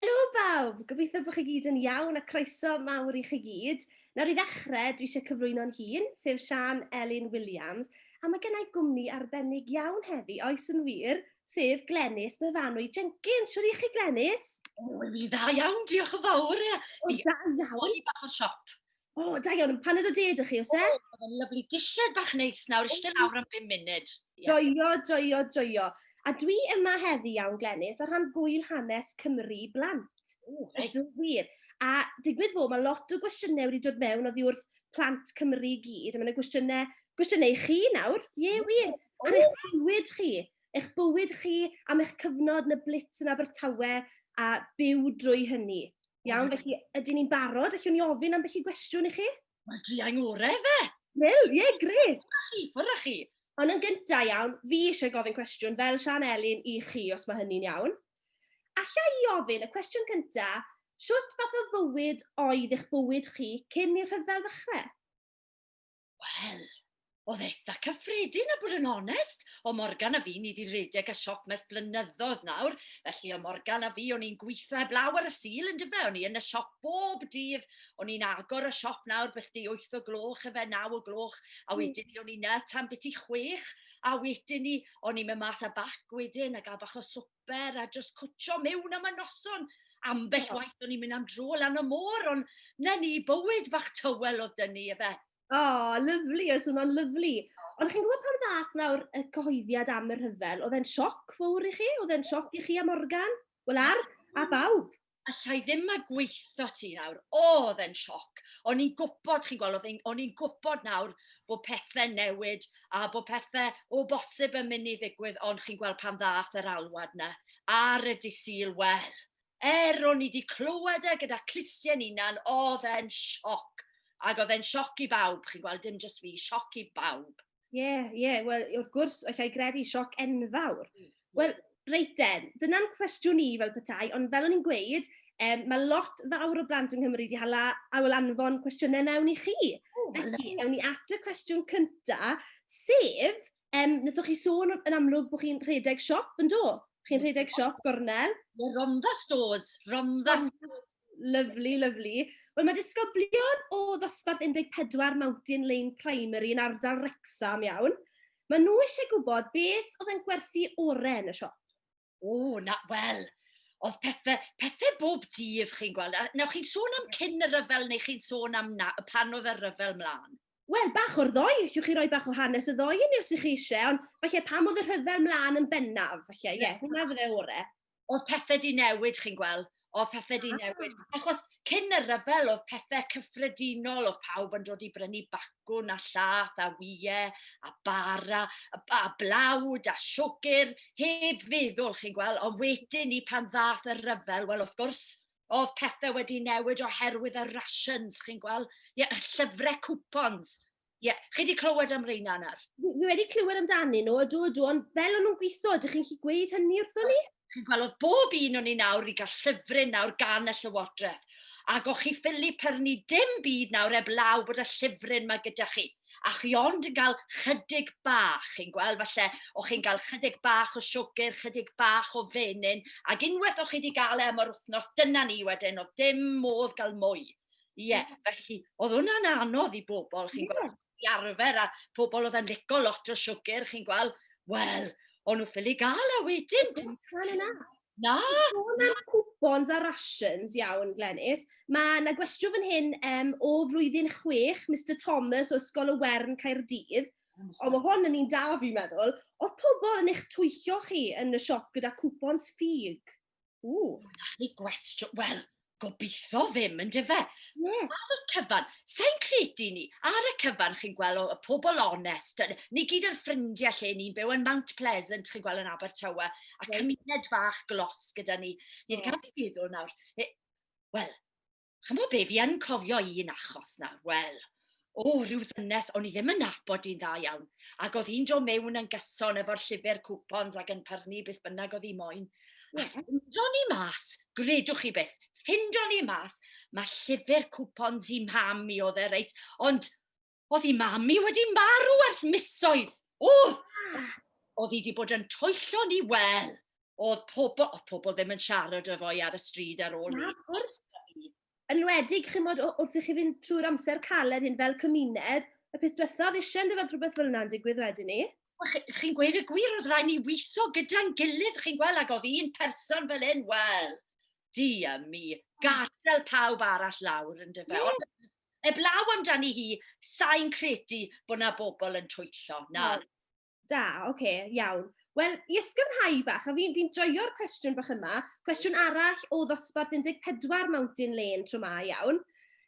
Helo bawb! Gobeithio bod chi gyd yn iawn a croeso mawr i chi gyd. Nawr i ddechrau, dwi eisiau cyflwyno'n hun, sef Siân Elin Williams, a mae gen i gwmni arbennig iawn heddi, oes yn wir, sef Glenys Myfanwy Jenkins. Siwr i chi, Glenys? O, mi dda iawn, diolch yn fawr. Ie, O, da iawn. O'n i bach o siop. O, oh, da iawn, pan oedd o ded chi, os e? O, oedd yn lyflu. Disied bach neis nawr, eisiau lawr am 5 munud. Yeah. Joio, joio, joio. A dwi yma heddi iawn, Glenys, ar rhan gwyl hanes Cymru blant. O, reit. Ydw wir. A digwydd fod, mae lot o gwestiynau wedi dod mewn oddi wrth plant Cymru i gyd, a mae'n gwestiynau, gwestiynau i chi nawr, ie wir, ar eich bywyd chi. eich bywyd chi am eich cyfnod yn y blitz yn Abertawe a byw drwy hynny. Iawn, felly ydyn ni'n barod? Allwn ni ofyn am felly gwestiwn i chi? Mae'n driau ngore fe! Wel, ie, yeah, gret! Ffwrra chi, ffwrra chi! Ond yn gyntaf iawn, fi eisiau gofyn cwestiwn fel Sian Elin i chi, os mae hynny'n iawn. Alla i ofyn, y cwestiwn cyntaf, sut fath o fywyd oedd eich bywyd chi cyn i'r rhyfel ddechrau? Wel, oedd eitha cyffredin a bod yn onest. O Morgan a fi, ni wedi redeg a siop mes blynyddoedd nawr, felly o Morgan a fi, o'n i'n gweithio heb law ar y sil yn dyfe, o'n i yn y siop bob dydd, o'n i'n agor y siop nawr beth di 8 o gloch efe, 9 o gloch, a hmm. wedyn ni o'n i'n y tan beth i chwech, a wedyn ni o'n i'n mynd mas a bac wedyn a gael bach o swp swper a just cwtio mewn am y noson. Ambell oh. waith o'n i'n mynd am dro lan y môr, ond na ni bywyd bach tywel oedd dyn ni, efe. O, oh, lyflu, oedd hwnna'n lyflu. Ond chi'n gwybod pan ddath nawr y cyhoeddiad am y rhyfel, oedd e'n sioc fawr i chi? Oedd e'n sioc i chi a Morgan? Wel ar, a bawb? allai ddim a gweitho ti nawr. O, oedd e'n sioc. O'n i'n gwybod, chi'n gweld, o'n i'n gwybod nawr bod pethau newid a bod pethau o bosib yn mynd i ddigwydd, ond chi'n gweld pan ddath yr alwad na ar y disil, wel, er o'n i wedi clywed e gyda clustiau'n unan, oedd e'n sioc. Ac oedd e'n sioc i bawb, chi'n gweld, dim jyst fi, sioc i bawb. Ie, yeah, ie, yeah. wel, wrth gwrs, allai gredu sioc enfawr. Hmm. Wel, reit den, dyna'n cwestiwn i fel petai, ond fel o'n i'n gweud, um, mae lot fawr o blant yng Nghymru wedi hala awyl anfon cwestiynau mewn i chi. Oh, Felly, ewn ni at y cwestiwn cyntaf, sef, um, wnaethoch chi sôn yn amlwg bod chi'n rhedeg siop yn do? Chi'n rhedeg siop gornel? Ie, Rhondda Stores, Rhondda Stores. Lyfli, lyfli. Wel, mae disgyblion o ddosbarth 14 Mountain Lane Primary yn ardal Wrecsam iawn. Mae nhw eisiau gwybod beth oedd yn gwerthu oren y siop. O, na, wel, oedd pethau, pethau bob dydd, chi'n gweld. A nawr chi'n sôn am cyn y rhyfel neu chi'n sôn am na, y pan oedd y rhyfel mlaen? Wel, bach o'r ddoi, allwch chi roi bach o hanes y ddoi i ni os ych chi eisiau, ond falle pam oedd y rhyfel mlaen yn bennaf, falle, ie, yeah, hwnna fydde ore. oedd pethau di newid, chi'n gweld, oedd pethau di ah. newid. Achos cyn y rhyfel oedd pethau cyffredinol, oedd pawb yn dod i brynu bacwn a llath a wyau a bara a, a blawd a siwgr, heb feddwl, chi'n gweld, ond wedyn ni pan ddath y rhyfel, wel wrth gwrs, oedd pethau wedi newid oherwydd y rations, chi'n gweld, yeah, llyfrau cwpons, Ie, yeah. chi wedi clywed am reina yna? Fi wedi clywed amdani nhw, ydw, ydw, ond fel o'n nhw'n gweithio, ydych chi'n chi gweud hynny wrthon ni? Chi'n gweld, oedd bob un o'n ni nawr, i gael llyfryn nawr gan y llywodraeth. Ac o'ch chi ffili pyrnu dim byd nawr eb law bod y llyfryn mae gyda chi. A chi ond yn cael chydig bach, chi'n gweld, falle, o'ch chi'n cael chydig bach o siwgr, chydig bach o fenyn, ac unwaith o'ch chi wedi gael e am yr wythnos, dyna ni wedyn, oedd dim modd gael mwy. Ie, yeah, felly, oedd hwnna'n anodd i bobl, chi'n yeah. gweld, i arfer, a pobl oedd yn lico lot o siwgr, chi'n gweld, wel, o'n nhw ffili gael a e wedyn. Dim tan yna. Na. Sôn am coupons a rations iawn, Glenys. Mae yna gwestiwn fan hyn um, o flwyddyn chwech, Mr Thomas o Ysgol y Wern Caerdydd. Ond mae hwn yn un da fi'n meddwl. Oedd pobl yn eich twyllio chi yn y siop gyda coupons ffug? Ww. Gallwn ni gwestiwn, wel, gobeithio ddim yn dyfe. Yeah. Ar y cyfan, sa'n credu ni, ar y cyfan chi'n gweld o, y pobl onest, ni gyd yn ffrindiau lle ni'n byw yn Mount Pleasant, chi'n gweld yn Abertawe, a yeah. cymuned fach glos gyda ni. Ni'n yeah. cael ei feddwl nawr, e, wel, Chimod be, fi yn cofio un achos nawr, wel, o, rhyw ddynes, o'n i ddim yn nabod i'n dda iawn, ac oedd hi'n dod mewn yn gyson efo'r llyfr cwpons ac yn pyrnu beth bynnag oedd hi moyn. A ffindo ni mas, gredwch chi beth, ffindo ni mas, mae llyfr cwpons i mam i oedd e, reit, ond Oedd i mam i wedi marw ers misoedd. O! Oedd i wedi bod yn toello ni wel. Oedd pobl, oedd pobl ddim yn siarad efo i ar y stryd ar ôl ni. Na, gwrs. Yn wedig, chi'n modd, wrth i chi fynd trwy'r amser caled hyn fel cymuned, y peth diwethaf oedd eisiau yn dyfod rhywbeth fel yna'n digwydd wedyn ni. Chi'n gweud y gwir, oedd rhaid ni weithio gyda'n gilydd, chi'n gweld, ac oedd un person fel hyn, wel, di a mi, gadael pawb arall lawr yn dyfa. Eblaw amdani hi, sain credu bod na bobl yn twyllo, na. Wel, da, oce, okay, iawn. Wel, i ysgynhau bach, a fi'n fi joio'r cwestiwn bach yma, cwestiwn arall o ddosbarth 14 Mountain Lane tro ma, iawn.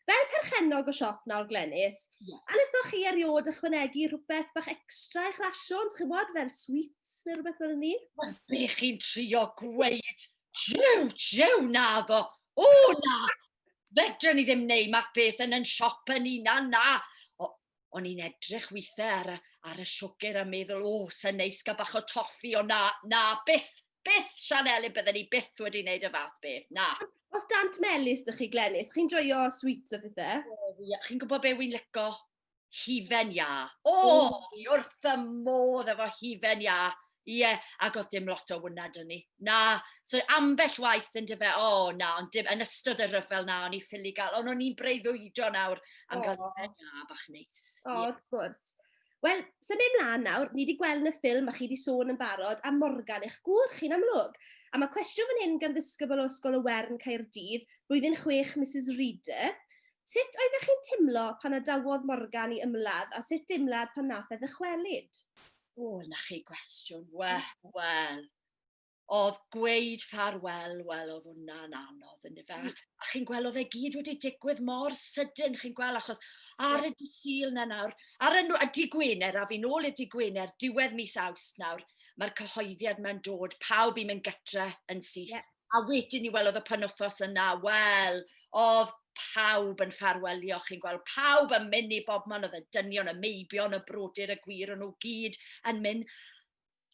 Fel perchennog o siop nawr, Glenys, yeah. a wnaethoch chi eriod ychwanegu rhywbeth bach extra i'ch rasiwn, chi'n bod, fel sweets neu rhywbeth fel ni? Wel, be chi'n trio gweud? Jiw, jiw, na ddo. O, na. Fedrwn ni ddim neud math beth yn yn siop yn una, na. O'n i'n edrych weithiau ar y, ar y siwgr a meddwl, o, sy'n neis gael bach o toffi, o na, na, byth, byth, Sian Elin, bydden ni byth wedi wneud y fath beth, na. Os dant melus dych chi, Glenys, chi'n joio sweets o bethau? Chi'n gwybod be wy'n lico? Hufen Iâ. O, oh, fi wrth y modd efo Hufen Iâ. Ie, yeah, ac oedd dim lot o wyna dyn ni. Na, so ambell waith yn dyfe, o oh, na, ond dim, yn ystod y rhyfel na, o'n i ffili gael, ond o'n i'n breuddwydo nawr am oh. gael Hufen Iâ bach neis. O, oh, wrth gwrs. Wel, sy'n mynd mlaen nawr, ni wedi gweld yn y ffilm a chi wedi sôn yn barod am Morgan, eich gŵr chi'n amlwg. A mae cwestiwn fan hyn gan ddisgybl o Ysgol y Wern Caerdydd, blwyddyn chwech, Mrs Reader. Sut oeddech chi'n timlo pan adawodd Morgan i ymladd a sut dimlad pan nath e ddychwelyd? O, 'na chi gwestiwn. Wel, wel. Oedd gweud ffarwel, wel, oedd hwnna'n anodd, yn efe? Mm. A chi'n gweld, oedd e gyd wedi digwydd mor sydyn, chi'n gweld, achos ar y disil na nawr, ar y, a di Gwener, a fi'n ôl y di Gwener, diwedd mis awst nawr, mae'r cyhoeddiad mae'n dod, pawb i'n mynd gytre yn syth. Yeah. A wedyn ni, wel, oedd y penwythnos yna, wel, oedd pawb yn ffarwelio, chi'n gweld, pawb yn mynd i bob man, oedd y dynion, y meibion, y brodyr, y gwir, o'n nhw gyd yn mynd.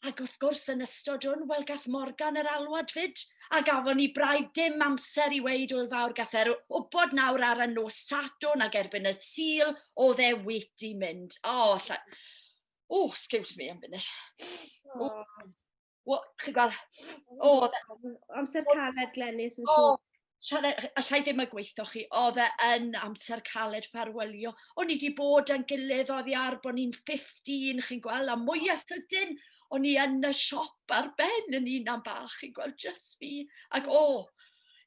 Ac wrth gwrs, yn ystod hwn, wel, gath Morgan yr alwad fyd, a gafon ni braidd dim amser i weid o'r fawr gath e'r wybod nawr ar y nos Sadwn ac erbyn y tîl, oedd e wedi mynd. O, oh, lla... O, oh, excuse me, am funud. Oh. Wel, chi'n gweld, o, amser caled Glenys yn siŵr. Alla i ddim y gweithio chi, oedd e yn amser caled ffarwelio. O'n i wedi bod yn gilydd oedd i ar bod ni'n 15, chi'n gweld, a mwyaf sydyn, o'n i yn y siop ar ben yn un am bach, chi'n gweld, just fi. Ac o,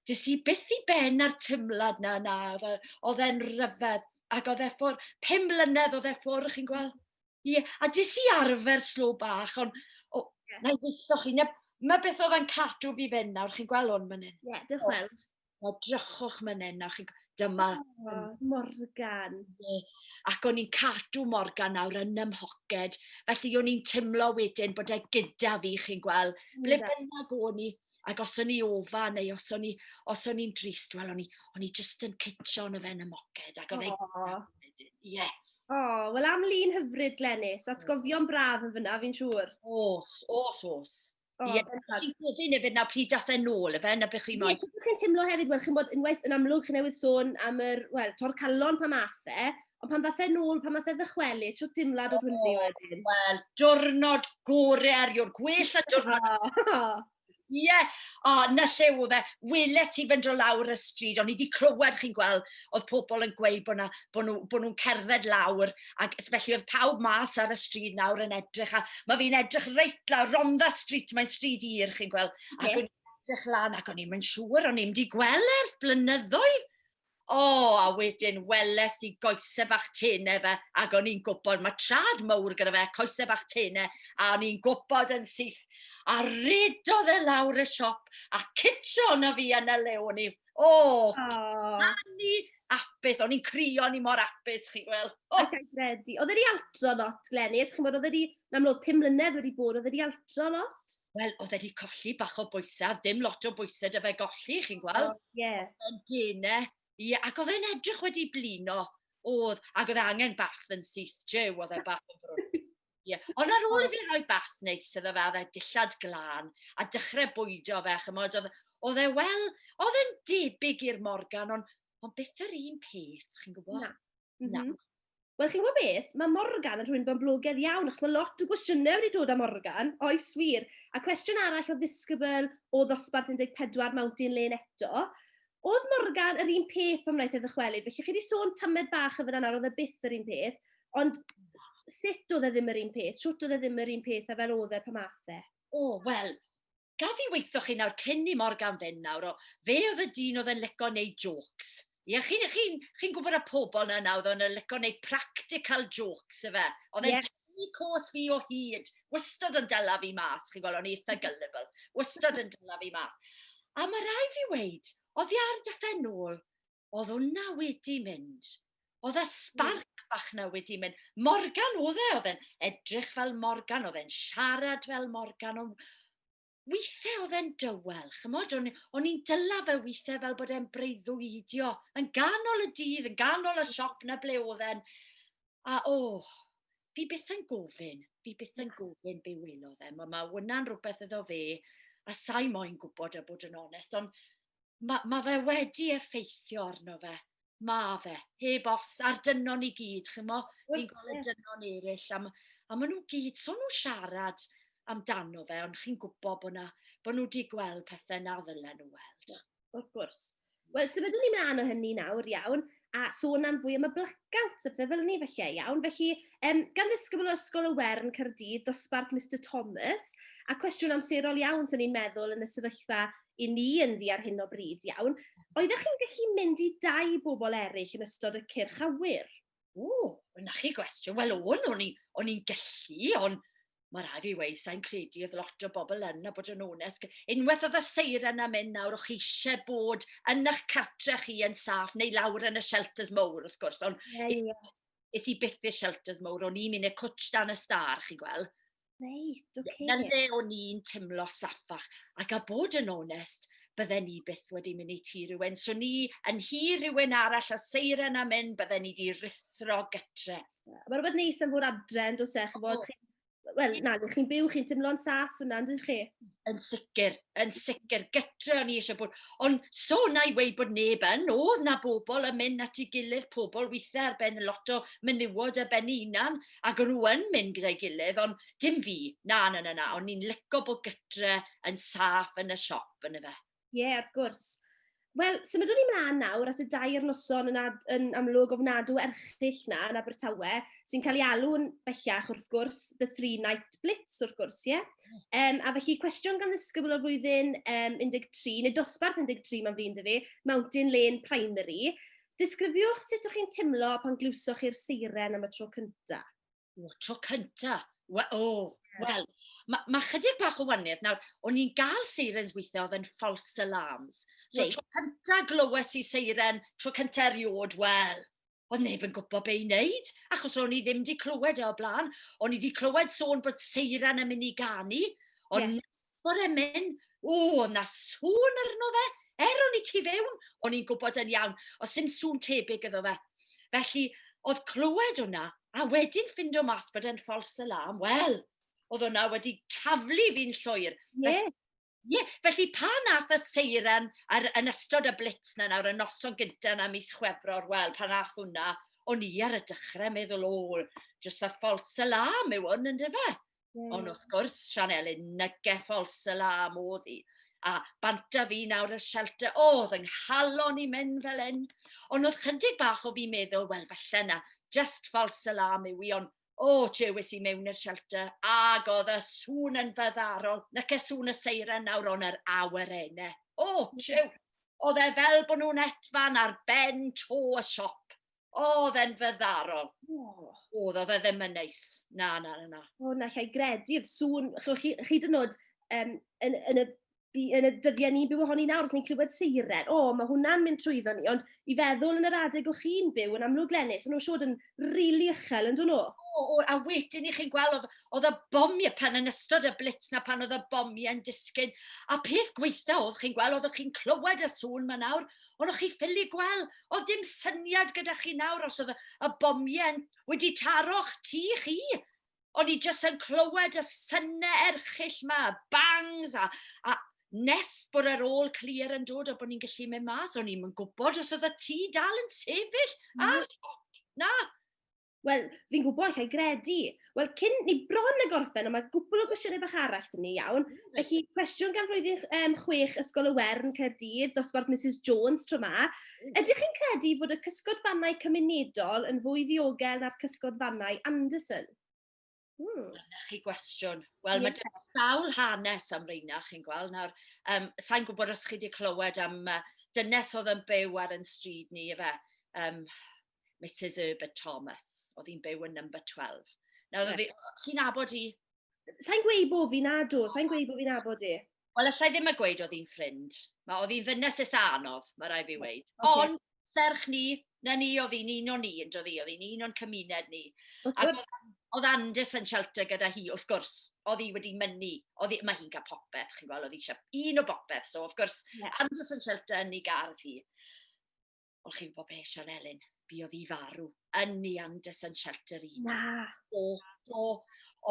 dys i byth i ben ar tymlad na, na, oedd e, e'n rhyfedd. Ac oedd e ffwr, pum mlynedd oedd e ffwr, chi'n gweld. Ie, yeah. a dis i arfer slo bach, ond oh, yeah. na i weithio chi. Na, mae beth oedd yn cadw fi fyn nawr, chi'n gweld hwn mynd hyn? Ie, yeah, diolch yn fawr. Na, drychwch mynd hyn nawr, chi'n dyma... Oh, Morgan. Yeah. Ac o'n i'n cadw Morgan nawr yn ymhoced, felly o'n i'n teimlo wedyn bod e gyda fi, chi'n gweld, ble bynnag o'n i, Ac os o'n i ofa, neu os o'n i, os o'n i'n drist, wel, o'n i, o'n i just yn cytio yn y fen y moced, ac o fe... Ie. Yeah. O, wel am lun hyfryd, Glenys, atgofion braf yn fyna, fi'n siŵr. Os, os, os. Oh, yeah. Chi'n gofyn hefyd na pryd dath e'n ôl, efe, na beth chi'n moyn? Ie, chi'n teimlo hefyd, wel, chi'n bod unwaith yn amlwg, chi'n newydd sôn am yr, wel, tor calon pa math e, Ond pan ddath e'n ôl, pan ddath e ddychwelu, tro dimlad o hwnnw wedyn. Wel, diwrnod gore erio'r gwell a diwrnod. Ie, yeah. o, oh, na lle oedd e. Wyle ti fynd o lawr y stryd, o'n i wedi clywed chi'n gweld, oedd pobl yn gweud bod, na, bod, nhw, bod nhw'n cerdded lawr, ac felly oedd pawb mas ar y stryd nawr yn edrych, a mae fi'n edrych reit lawr, Rhondda Street, mae'n stryd i'r, chi'n gweld, ac yeah. o'n i'n edrych lan, ac o'n i'n mynd siŵr, o'n i'n mynd i gweld ers blynyddoedd, O, a wedyn weles i goese bach tene fe, ac o'n i'n gwybod, mae trad mawr gyda fe, coese bach tene, a o'n i'n gwybod yn syth. A redodd e lawr y siop, a citio na fi yn y lew o'n i. O, oh. ni apus, o'n i'n crio, ni mor apus, chi'n gweld. Oh. Ac credu. Oedd wedi altro lot, Glenny, ydych chi'n bod, oedd wedi Yn amlwg, pum mlynedd wedi bod, oedd wedi altro lot. Wel, oedd wedi colli bach o bwysau, ddim lot o bwysau dy fe golli, chi'n gweld? Oh, yeah. Yn dene. Ie, ac oedd e'n edrych wedi blino. Oedd, ac oedd e angen bath yn syth, Jew, oedd e bath yn brwyd. Ie, ond ar ôl i fi roi bath neis iddo fe, oedd e dillad glân, a dechrau bwydo fe, chymod, oedd, oedd e, wel, oedd e'n debyg i'r Morgan, ond, ond beth yr un peth, chi'n gwybod? Na. Na. Mhm. Wel, chi'n gwybod beth? Mae Morgan yn rhywun boblogaidd iawn, achos mae lot o gwestiynau wedi dod am Morgan, oes wir. A cwestiwn arall o ddisgybl o ddosbarth 14 Mountain Lane eto. Oedd Morgan yr un peth pan wnaeth e ddychwelyd? Felly, chi wedi sôn tamed bach yn fyna nawr, oedd e byth yr un peth. Ond sut oedd e ddim yr un peth? Sut oedd e ddim yr un peth a fel oedd e pan math e? O, wel, Gaf i weitho chi nawr cyn i Morgan fynd nawr o fe oedd y dyn oedd yn lico neud jôcs. Ie chi'n chi'n chi'n gwbod y pobl na nawr oedd yn lico neud practical jôcs yfe? Oedd e'n Ie. tynnu cos fi o hyd. Wystod yn dyla fi mas chi'n gweld o'n i itha gullible. Wystod yn dyla fi mas. A ma' rai' fi weud, oddi ar dy phen ôl, oedd hwnna wedi mynd. Oedd y sbarc bach na wedi mynd. Morgan oedd e, oedd e'n edrych fel Morgan, oedd e'n siarad fel Morgan, ond weithiau oedd e'n dywel, chymod, o'n, on i'n dyla fe weithiau fel bod e'n breuddwydio, yn ganol y dydd, yn ganol y siop na ble oedd e'n, a o, oh, fi byth yn gofyn, fi byth yn gofyn be welo fe. Mae ma hwnna'n rhywbeth iddo fe, a sa'i moyn gwybod a bod yn onest, ond mae ma fe wedi effeithio arno fe. Mae fe, heb os, a'r dynon i gyd, chymo, fi'n gweld y dynon eraill, a, a maen nhw gyd, so nhw siarad amdano fe, ond chi'n gwybod bod, na, bod nhw wedi gweld pethau na ddylen nhw weld. Wrth gwrs. Wel, symudwn ni mlaen o hynny nawr, iawn. a sôn am fwy am y blackout a pethau fel ni felly, iawn. Felly, um, gan ddisgybl o Ysgol y Wern Caerdydd, dosbarth Mr Thomas, a cwestiwn amserol iawn sy'n ni'n meddwl yn y sefyllfa i ni yn ddi ar hyn o bryd iawn. Oeddech chi'n gallu mynd i dau bobl eraill yn ystod y cyrch awyr? O, yna chi gwestiwn. Wel, o'n, o'n i'n gallu, ond Mae rhaid fi wei, sa'n credu oedd lot o bobl yn a bod yn onest. Unwaith oedd y seiren am mynd nawr, o'ch eisiau bod yn eich cartre chi yn saff, neu lawr yn y shelters mowr, wrth gwrs. Ond yeah, yeah. is i byth i'r shelters mowr, o'n i'n mynd i'r cwtch dan y star, chi gweld. Reit, oce. Okay. Na le o'n i'n teimlo saffach. Ac a bod yn onest, bydden ni byth wedi mynd i ti rhywun. So ni yn hi rhywun arall a seiren am un, bydden ni wedi rithro gytre. Mae rhywbeth neis am fod adre, yn dos e, chybod, chi... Wel, na, chi'n byw, chi'n teimlo'n saff yna, yn chi? Yn sicr, yn sicr, gytre o'n i eisiau bod. Ond so na i wei bod neb yn, oedd na bobl yn mynd at ei gilydd, pobl weithiau ar ben lot o menywod ar ben ei hunan, ac o'n nhw yn mynd gyda'i gilydd, ond dim fi, na, na, na, na, ond ni'n lyco bod gytre yn saff yn y siop, yn y fe. Ie, yeah, wrth gwrs. Wel, symudwn ni mlaen nawr at y dair noson yn, ad, yn amlwg ofnadw erchill na yn Abertawe, sy'n cael ei alw'n bellach wrth gwrs, The Three Night Blitz wrth gwrs, ie? Yeah? Um, a felly, cwestiwn gan ddisgybl o'r flwyddyn um, 13, neu dosbarth 13 mae'n flin dy fi, Mountain Lane Primary. Disgrifiwch sut o'ch chi'n timlo pan glywsoch chi'r seiren am y tro cyntaf. O, tro cynta. We, o, yeah. wel, mae ma chydig bach o waniad. Nawr, o'n i'n gael seirens weithiau oedd yn false alarms. So, Reit. tro cynta glywes i seiren, tro cynta eriod, wel, oedd neb yn gwybod be i wneud, achos o'n i ddim wedi clywed e o blaen. O'n i wedi clywed sôn bod seiren yn mynd i ganu, ond yeah. Bore men, o, na sŵn arno fe, er o'n i tu fewn, o'n i'n gwybod yn iawn, os sy'n sŵn tebyg iddo fe. Felly, oedd clywed hwnna, a wedyn ffindo mas bod e'n false alarm, wel, oedd hwnna wedi taflu fi'n llwyr. Ie. Yeah. Ie, yeah, felly pa nath y seiren ar, yn ystod y blitz na nawr, y noson gyntaf na mis chwefror, wel, pa nath hwnna, o'n i ar y dechrau meddwl, o, jyst y false alarm yw hwn, ynddo fe? Mm. Ond wrth gwrs, Sian Elin, nygeffol salam oedd hi. A banta fi nawr y shelter, o, oh, oedd yng nghalon i mynd fel hyn. Ond oedd chydig bach o fi meddwl, wel, falle na, just false salam yw i, ond o, oh, jewis i mewn i'r shelter, ag oedd y sŵn yn fyddarol, na ce sŵn y seiren nawr ond yr awyr ene. O, oh, jew, oedd e fel bod nhw'n etfan ar ben to y siop. O, oedd e'n fyddarol. Oh. Oedd, oedd e ddim yn neis. Na, na, na, na. O, na, lle i gredu, oedd sŵn, chi, chi dyn nhw'n um, yn, yn, y, yn y dyddiau ni'n byw ohoni nawr, os ni'n clywed seiren, o, mae hwnna'n mynd trwyddo ni, ond i feddwl yn yr adeg o chi'n byw yn amlwg lennill, nhw'n siod yn rili really uchel, yn dyn nhw? O, o, a wedyn i chi'n gweld, oedd, oedd y bomiau pan yn ystod y blitz na pan oedd y bomiau yn disgyn, a peth gweitha oedd chi'n gweld, oedd chi'n clywed y sŵn ma nawr, ond o'ch chi ffili gweld, oedd dim syniad gyda chi nawr os oedd y bomiau wedi taro'ch tu chi. O'n i jyst yn clywed y synnau erchill ma, y bangs a, a nes bod yr ôl clir yn dod a bod ni'n gallu mynd mas, o'n i'n gwybod os oedd y tu dal yn sefyll. Mm. A, na, Wel, fi'n gwybod, allai gredu. Wel, cyn ni bron y gorffen, ond mae gwbl o gwestiynau bach arall dyn ni iawn. Mm. Felly, cwestiwn gan flwyddyn um, chwech Ysgol y Wern, Caerdydd, dosbarth Mrs Jones tro ma. Mm. Ydych chi'n credu fod y cysgod fannau cymunedol yn fwy ddiogel na'r cysgod fannau Anderson? Dyna chi gwestiwn. Wel, yeah. mae sawl hanes am reina, chi'n gweld. Nawr, um, sa'n gwybod os chi wedi clywed am uh, dynes oedd yn byw ar yn stryd ni, efe, um, Mrs Herbert Thomas, oedd hi'n byw yn number 12. Nawr, yeah. chi'n abod i? Sa'n gweud bod fi'n adw, sa'n gweud bod fi'n abod i. Wel, allai ddim a gweud oedd hi'n ffrind. Mae oedd hi'n fynnes eitha anodd, mae rai fi weid. Okay. Ond, serch ni, na ni oedd hi'n un o'n ni, yn dod hi, oedd hi'n un o'n cymuned ni. Ac oedd Andes yn shelter gyda hi, wrth gwrs, oedd hi wedi mynnu, oedd hi, mae hi'n cael popeth, chi'n gweld, oedd hi eisiau un o bopeth, so wrth gwrs, yeah. Andes yn shelter yn ei gardd hi. Wel, chi'n gwybod beth, Sian Elin, bu oedd i farw yn Neanders yn Shelter i. Na. O, do.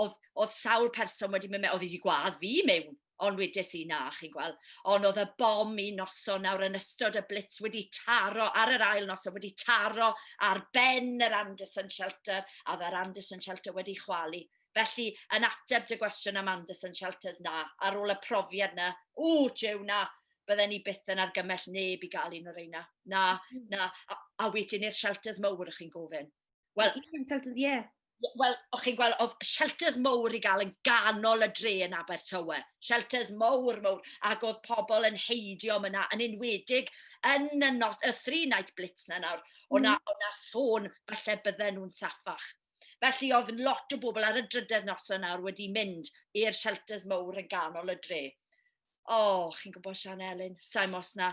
Oedd, oedd sawl person wedi mynd mewn, oedd wedi gwadd fi mewn, ond wedes i na, chi'n gweld. Ond oedd y bom i noson nawr yn ystod y blitz wedi taro, ar yr ail noson wedi taro ar ben yr Anderson Shelter, a oedd yr Anderson Shelter wedi chwalu. Felly, yn ateb dy gwestiwn am Anderson Shelters, na, ar ôl y profiad na, o, jew na, bydden ni byth yn argymell neb i gael un o'r reina. Na, mm. na, a, a wedyn i'r shelters mowr ych chi'n gofyn. Wel, shelters, ie. Yeah. Wel, o'ch chi'n gweld, oedd shelters mowr i gael yn ganol y dre yn Abertawe. Shelters mowr, mowr, ac oedd pobl yn heidio yna, yn enwedig yn y, not, y three night blitz na nawr, o'na, mm. o'na sôn falle bydden nhw'n saffach. Felly oedd lot o bobl ar y drydedd noson nawr wedi mynd i'r shelters mowr yn ganol y dre. o, chi'n gwybod Sian Elin, sa'n gwybod os na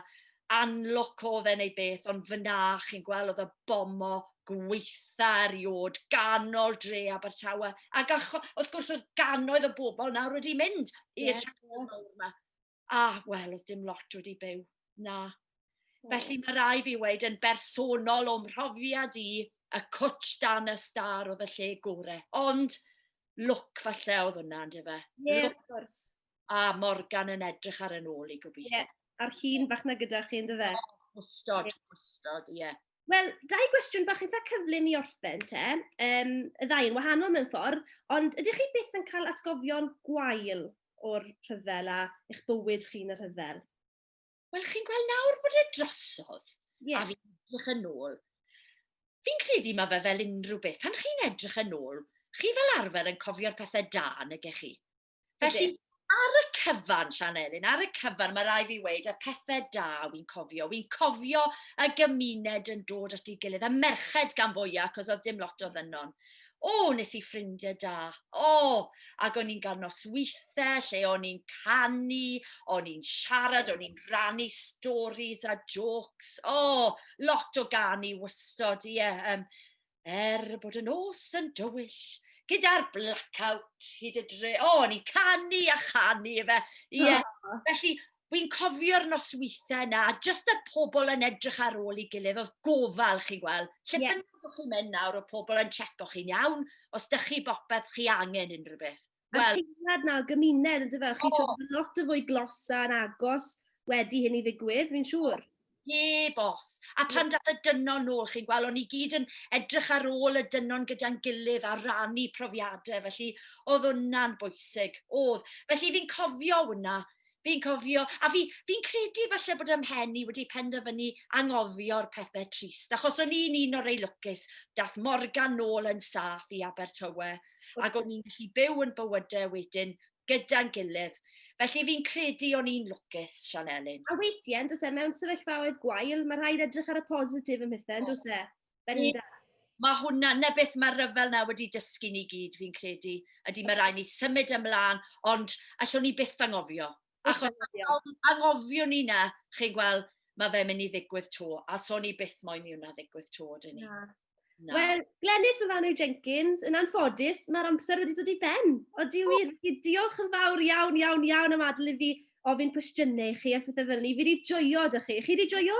unlock o fe neu beth, ond fyna chi'n gweld oedd y bomo gweitha eriod ganol dre Abertawe. Ac wrth gwrs oedd ganoedd o bobl nawr wedi mynd i'r yeah. siampiones mawr yma. A wel, oedd dim lot wedi byw. Na. Felly mae rai fi wneud yn bersonol o'm mhrofiad i y cwtch dan y star oedd y lle gore. Ond look falle oedd hwnna, ynddo fe? Ie, yeah, of course. A Morgan yn edrych ar yn ôl i gobeithio. Ie, a'r llun bach na gyda chi, ynddo fe? Wstod, wstod, ie. Wel, dau gwestiwn bach eitha cyflym i orffen te. Um, y ddau yn wahanol mewn ffordd, ond ydych chi byth yn cael atgofion gwael o'r rhyfel a eich bywyd chi'n y rhyfel? Wel, chi'n gweld nawr bod e drosodd, yeah. a fi'n edrych yn ôl. Fi'n credu mae fe fel unrhyw beth. Pan chi'n edrych yn ôl, chi fel arfer yn cofio'r pethau da, neu chi? Felly, ar y cyfan, Sian Elin, ar y cyfan, mae rai fi weid, y pethau da wy'n cofio. Wy'n cofio y gymuned yn dod at ei gilydd, y merched gan fwyaf, cos oedd dim lot o ddynon. O, nes i ffrindiau da. O, ac o'n i'n cael nosweithiau lle o'n i'n canu, o'n i'n siarad, o'n i'n rannu stories a jokes. O, lot o ganu wystod, ie. Yeah, um, Er bod y nos yn dywyll, gyda'r blackout hyd y dre. O, o'n i'n canu a chanu efe. Ie. Yeah. Oh. Felly, Wy'n cofio'r nosweithiau yna, a jyst y pobl yn edrych ar ôl i gilydd, oedd gofal chi'n gweld. Lle yeah. bynnag o'ch chi'n mynd nawr, o pobl yn checo chi'n iawn, os da chi bopeth chi angen unrhyw beth. Wel... A teimlad na gymuned, yn dyfe? O! Chi eisiau bod yn lot yn fwy glos a'n agos wedi hyn i ddigwydd, fi'n siŵr. Heb os. A pan dath y dynon nôl, chi'n gweld, o'n ni gyd yn edrych ar ôl y dynon gyda'n gilydd a rannu profiadau, felly oedd hwnna'n bwysig, oedd. Felly fi'n cofio hwnna, Fi'n cofio, a fi, fi'n credu falle bod ym mhen i wedi penderfynu anghofio'r pethau trist, achos o'n i'n un o'r ei lwcus, dath Morgan nôl yn saff i Abertawe, ac o'n i'n gallu byw yn bywydau wedyn gyda'n gilydd. Felly fi'n credu o'n i'n lwcus, Sian Elin. A weithiau, yn dos e, mewn sefyllfaoedd gwael, mae rhaid edrych ar y positif ym mhethau, yn dos e? Bendant. Mae hwnna, na beth mae'r rhyfel na wedi dysgu ni gyd, fi'n credu, ydy mae rai ni symud ymlaen, ond allwn ni byth angofio. Achos angofio ni na, chi'n gweld, mae fe'n mynd i ddigwydd to, a so ni byth moyn i hwnna ddigwydd to, dyn ni. Wel, Glenys Myfanwy Jenkins, yn anffodus, mae'r amser wedi dod i ben. Odi wir, felly diolch yn fawr iawn, iawn, iawn am adael i fi ofyn cwestiynau i chi a phethau fel ni. Fi wedi joio da chi. Chi wedi joio?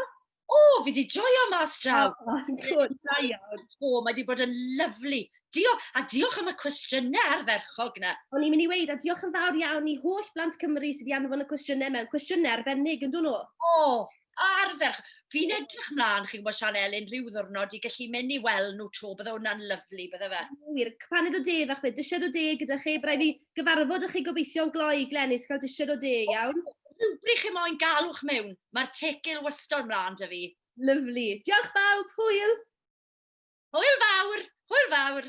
O, fi di joio mas draw. O, ti'n cwrdd, da iawn. O, mae di bod yn lyflu. Diolch, a diolch am y cwestiynau arferchog na. O'n i'n mynd i weid, a diolch yn fawr iawn i holl blant Cymru sydd wedi anfon y cwestiynau mewn. Cwestiynau arbennig, yn dyn nhw? O, arferch. Fi'n edrych mlaen, chi'n gwybod, Sian Elin, rhyw ddwrnod i gallu mynd i weld nhw tro, bydde hwnna'n lyflu, bydde fe. Wir, paned o de fach fe, dysiad o de gyda chi, brau fi gyfarfod â chi gobeithio'n gloi. Glenys, cael disiod o de, iawn? Rhywbryd chi moyn galwch mewn, mae'r tegil wastod mlaen da fi. Lyfli. Diolch bawb, hwyl! Hwyl fawr, hwyl fawr!